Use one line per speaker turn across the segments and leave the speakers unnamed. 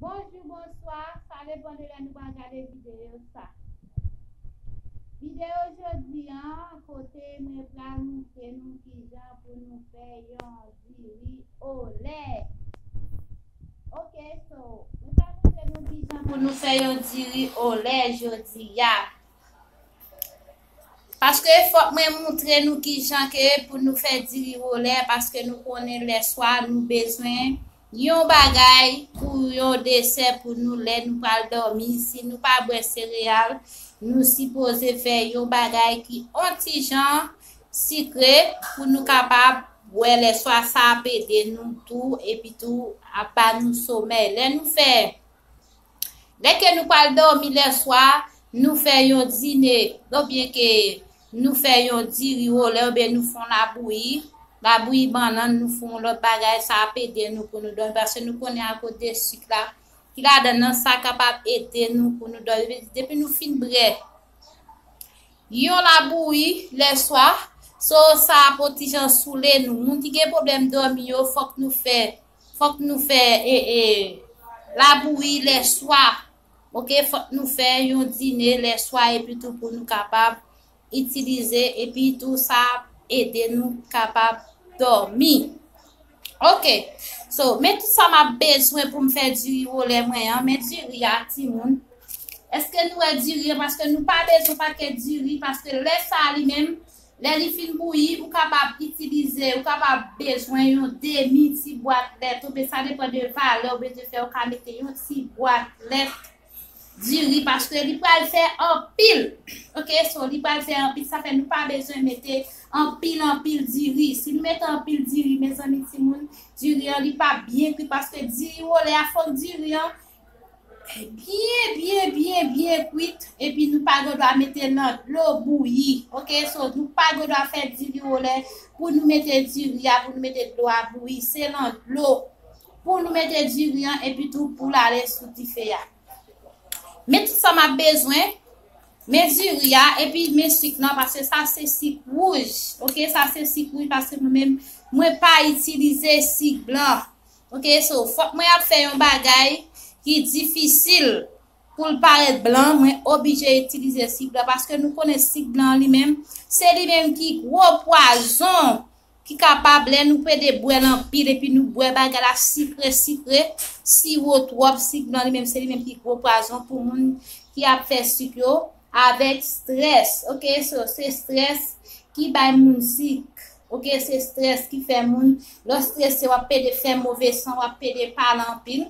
Bonjou, bonswa, sa depan de lè nou pral gade videyo sa. Videyo jodi an, kote mwen pral montre nou kijan pou nou fè yon diri olè. Ok, so, mwen pral montre nou kijan pou nou fè yon diri olè jodi a. Paske fòk mwen moutre nou kijan ke pou nou fè diri wole paske nou konnen lè swa nou bezwen yon bagay pou yon desè pou nou lè nou pral dòmi si nou pa bwè sereyal nou sipoze fè yon bagay ki on tijan sikre pou nou kapab bwè lè swa sa ap ede nou tou epitou ap ba nou somèy lè nou fè. Lè ke nou pral dòmi lèswa, nou fè yon dine, o byen ke nou fè yon diri olè, o byen nou fon labouyi, labouyi bannann, nou fon lòt bagay, sa ap ede nou pou nou dòmi, paske nou konnen akoz de sik la, ki ladann nan, sa kapab ede nou pou nou dòmi, depi nou fin brè, yon labouyi lèswa, so sa ap otijan soule nou, moun ki gen pwoblèm dòmi yo, fòk nou fè. Fok nou fè labouri lè swa ok fok nou fè yon dine lè swa epi tou pou nou kapab itilize epi tou sa ap ede nou kapab domi ok so men tout sa map bezwen poum fè diri wole mwen an men diri a timoun eske nou wè diri an paske nou pa bezwen pakèt diri paske lè sa li menm Lè li fin bouyi, ou kapab itilize, ou kapab bezwen yon demi ti bwat lèt oubyen sa depan de valè ou bezwen fè ou ka mete yon ti bwat lèt diri paske li pral fè anpil ok so li pral fè anpil sa fè nou pa bezwen mete anpil anpil diri si nou mete anpil diri mezanmi timoun diri an li pap byen kwi paske diri wole a fòk diri an Byen byen byen byen kwit epi nou pa gen dwa mete nan dlo bouyi ok so nou pa gen dwa fè diri ou lè pou nou mete diri a pou nou mete dlo a bouyi se nan dlo pou nou mete diri an epi tou pou lale sou dife a men tout sa map bezwen men diri a epi men sik nan pase sa se sik wouj ok sa se sik wouj pase nou men mwen pa itilize sik blan Ok so fok mwen ap fe yon bagay ki difisil poul paret blan mwen obije itilize sik blan paske nou konnen sik blan li menm se li menm ki gwo pwazon ki kapab le nou pede bwel anpil epi nou bwe bagay la sikre sikre siwo twop sik blan li menm se li menm ki gwo pwazon pou moun ki ap fe sik yo avek stress ok so se stress ki bay moun sik. Ok se stress ki fè moun lè w stresse wap pede fè move san wap pede pale anpil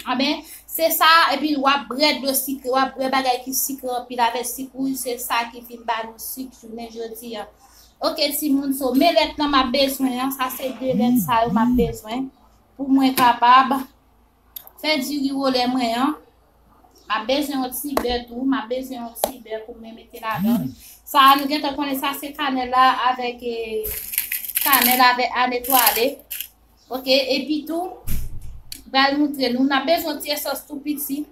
anben se sa epi wap brè dlo sikre wap brè bagay ki sikre anpil avè sik wouj se sa ki vin ba nou sik jounen jodi a ok ti moun so men lèt lan map bezwen an sa se 2 lèt sa yo map bezwen pou mwen kapab. Fè diri wole mwen an. Map bezwen yon ti bè tou. Map bezwen yon ti bè pou mwen mete ladann. Sa a nou gentan konnen sa se kanèl la avèk e kanèl avèk ane twale. Ok, epi tou bal moutre nou. Nap bezwen yon ti esans tou piti.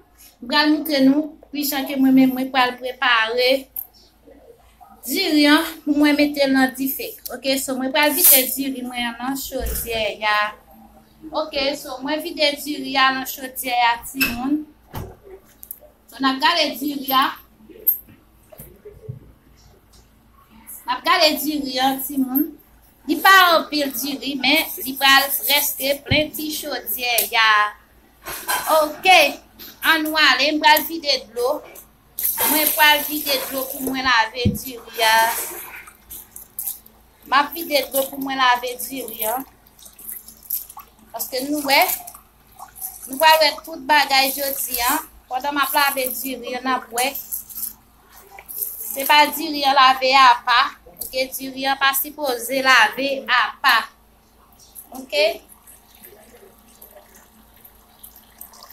Bal moutre nou ki jan ke mwen menm mwen pral prepare diri an pou mwen mete nan dife. Ok, so mwen pral vide diri mwen an nan chodyè ya. Ok, so mwen vide diri a nan chodyè a ti moun. So nap gade diri a. Nap gade diri a ti moun. Li pa an pil diri men li pral preske plen ti chodyè ya. Ok, an nou ale m pral vide dlo. Mwen pral vide dlo pou mwen lave diri a. Map vide dlo pou mwen lave diri a. Paske nou wè, nou pral wè tout bagay jodi an. Pandan m ap lave diri an, n ap wè. Se pa diri an lave a pa. Ok, diri an pa sipoze lave a pa. Ok.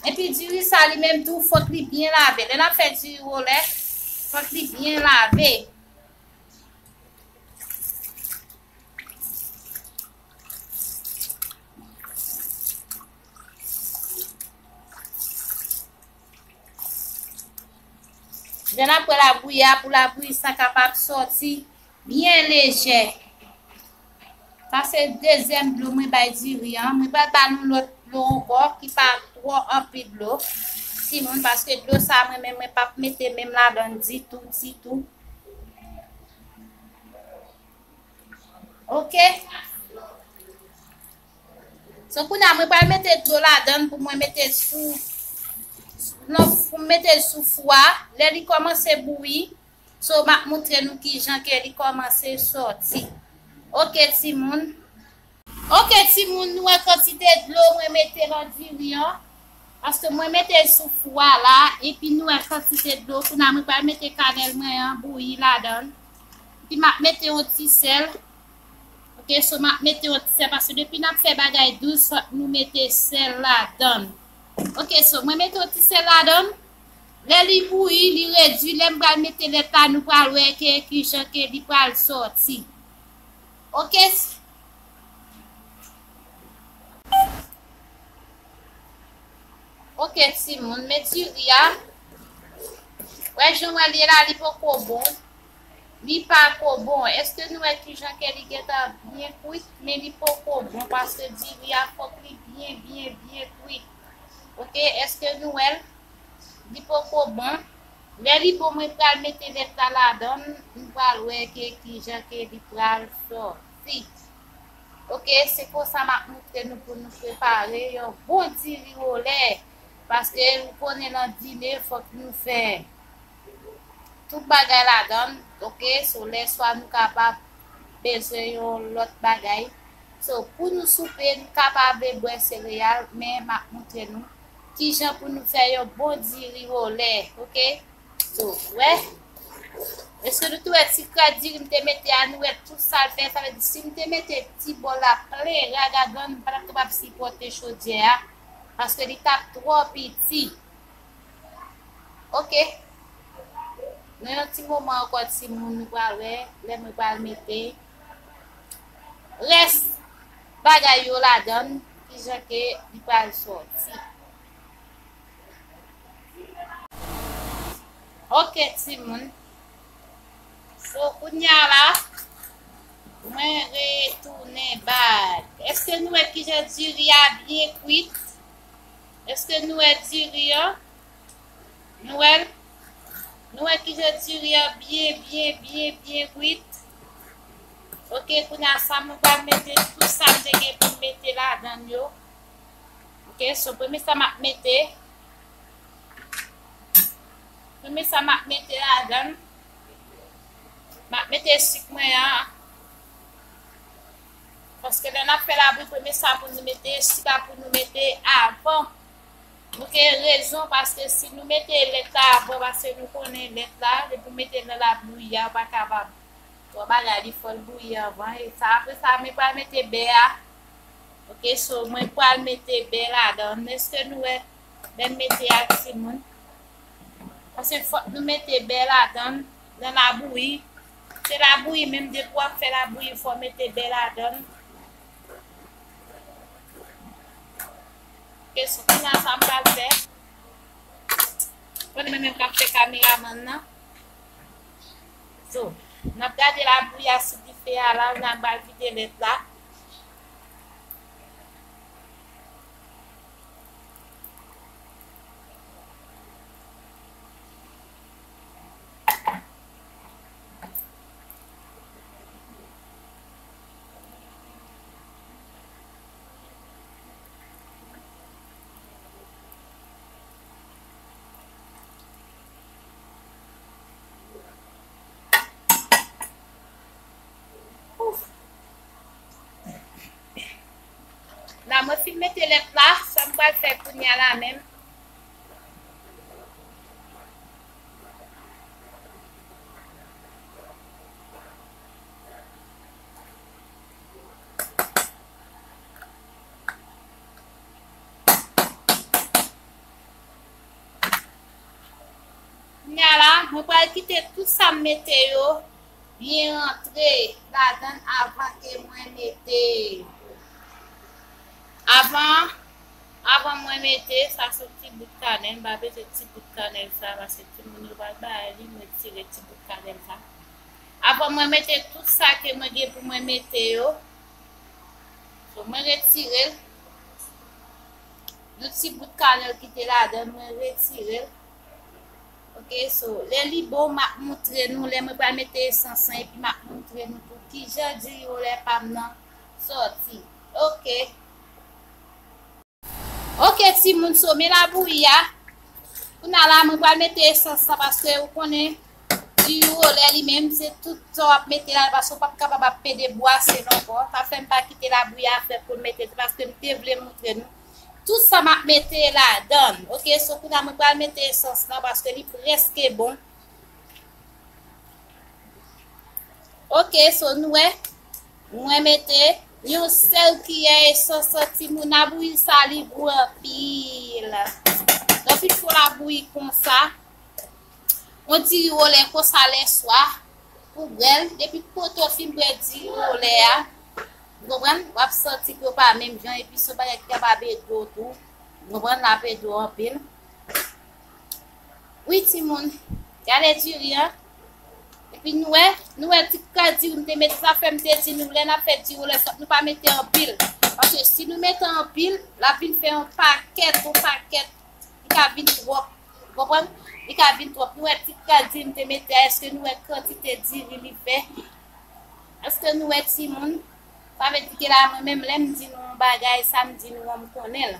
Epi diri sa li menm tou, fòk li byen lave. Lè n ap fè diri wole, fòk li byen lave. Ok. Jan apre labouyi a pou labouyi sa kapab sòti byen lejè. Sa se dezyèm dlo mwen bay diri an. Mwen pral ba nou lòt dlo ankò ki pa twò anpil dlo. Timoun, paske dlo sa mwen menm mwen pap mete menm ladan l ditou, ditou. Ok. So kounye a mwen pral mete dlo ladan l pou mwen mete sou non, pou mwen mete sou fou a. Lè li kòmanse bouyi. So map moutre nou kijan ke li komanse soti ok timoun. Ok timoun nou wè kantite dlo mwen mete lan diri an paske mwen metel sou fou a la epi nou wè kantite dlo kounya mwen pral mete kanèl mwen an bouyi ladan epi map mete yon ti sèl ok so map mete yon ti sèl paske depi nap fè bagay dous fòk nou mete sèl ladan ok so mwen mete yon ti sèl ladan. Lè li bouyi, li redwi, lèm pral mete lèt la nou pral wè ke kijan ke li pral sòti. Ok. Ok ti moun, men diri a. Wè jan wè li la li poko bon. Li pa ko bon. Eske nou wè kijan ke li gentan byen kwit, men li poko bon paske diri a fok li byen byen byen kwit. Ok eske nou wèl Li poko bon lè li bon mwen pral mete lèt la ladann nou pral wè ke kijan ke li pral sòti ok se konsa map moutre nou pou nou prepare yon bon diri ou lè paske ou konnen nan dine fòk nou fè tout bagay ladann ok so lè swa nou kapab bezwen yon lòt bagay. So pou nou soupe nou kapave bwè sereyal men map moutre nou kijan pou nou fè yon bon diri wole ok so wè eske nou tou wè ti krat diri m te mete a nou wè tout sal fè sa vle di sim te mete ti bol la plen ragagan m patap kapab sipote chodyè a paske li tap tro piti ok nan yon ti moman anko ti moun nou pral wè lè mwen pral mete. rès bagay yo ladann kijan ke li pral sòti. Ok timoun so kounya la mwen retounen bak. Eske nou wè kijan diri a byen kwit? Eske nou wè diri an? Nou wèl? Nou wè kijan diri an byen byen byen byen kwit? Ok kounya sa mwen pral mete tout sa mwen te gen pou mete la dan yo ok so premye sa map mete premye sa map mete la dan map mete sik mwen an paske lè nap fè la bou premye sa pou nou mete sik la pou nou mete avan Nou gen rezon paske si nou mete lèt la avan paske nou konnen lèt la depi w mete l nan la bouyi a ou pa kapab fè yon bagay li fòl bouyi avan e sa apre sa mwen pral mete bè a ok so mwen pral mete bè ladan l eske nou wè bè m mete a timoun paske fòk nou mete bè ladan l nan la bouyi se la bouyi menm depi w ap fè la bouyi fò w mete bè ladan l Kesnl kounye a sa m pral fè. Bon e mwen menm kap fè kameraman nan. So nap gade labouyi a sou dife a la jan bal vide lèt la. La mwen fin mete lèt la, sa m pral fè kounya la menm. Kounya la mwen pral kite tout sa m mete yo byen rantre ladan l avan ke mwen mete avan avan mwen mete sa se ti bout kanèl m pa peze ti bout kanèl sa paske timoun yo pral bay li mwen tire ti bout kanèl sa. Aprè mwen mete tout sa ke mwen gen pou mwen mete yo. So mwen retirel. Yon ti bout kanèl ki te ladann mwen retirel. Ok so lè li bon m ap moutre nou lè mwen pral mete esans lan epi m ap moutre nou tou kijan diri olè pa m nan sòti. Ok. Ok ti moun so men la bouyi a. Kouna la mwen pral mete esans la paske ou konnen di ou olè li menm se tout sa wap mete la paske ou pap kapab ap pede bwa se non po. Pa fèm pa kite la bouyi a fè pou mete tout paske m te vle moutre nou. Tout sa map mete la dan. Ok so kouna mwen pral mete esans la paske li preske bon. Ok so nou e. Mwen mete Yon sel kiyè esan san timoun a bouyi sa li gou anpil Yon ti fol a bouyi konsa Yon ti ri wole konsa lè swa Pou bwèl depi poto fin bwè di ri wole a Ou konprann wap santi ke ou pa menm jan epi son bagay ki kap ap ede ou tou Ou konprann lap ede ou anpil Wi timoun Gade diri an Epi nou wè, nou wè ti kras diri m te met la, fè m te di nou lè n ap fè diri ou lè sòt nou pa mete anpil. Paske si nou mete anpil, l ap vin fè yon pakèt, yon pakèt, li ka vin twòp. Ou konprann? Li ka vin twòp. Nou wè ti kras diri m te mete a, èske nou wè kantite diri li fè? Èske nou wè timoun? Sa vle di ke la mwen menm lè m di nou yon bagay, sa m di nou an m konnen l.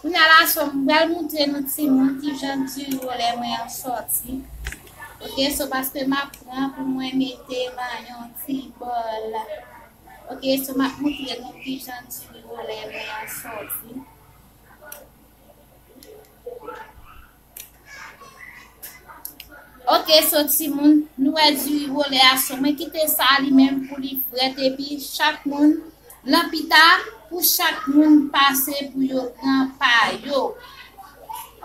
Kounya la so m pral moutre nou timoun kijan duro lè mwen an sòti ok so paske map pran pou mwen mete nan yon ti bòl ok so map moutre nou kijan duro lè mwen an sòti. Ok so timoun nou wè di wole a so mwen kite sa li menm pou li frèt epi chak moun lan pita pou chak moun pase pou yo pran pa yo.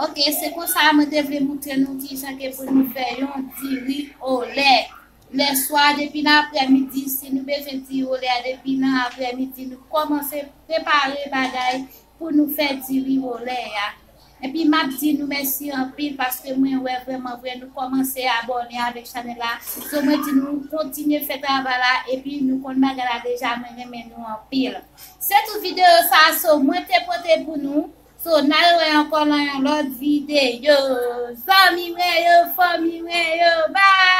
Ok se kon sa mwen te vle moutre nou ki jan ke pou nou fè yon diri ole. Lè swa depi nan aprè midi si nou bezwen diri ole a depi nan aprè midi nou kòmanse prepare bagay pou nou fè diri wole a epi map di nou mèsi anpil paske mwen wè vrèman vre nou kòmanse abòne avèk chanèl la so mwen di nou kontinye fè travay la epi nou konn bagay la deja mwen renmen nou anpil se tout videyo sa so mwen te pote pou nou so nal wè ankò lan yon lòt videyo zanmi mwen yo fanmi mwen yo bye.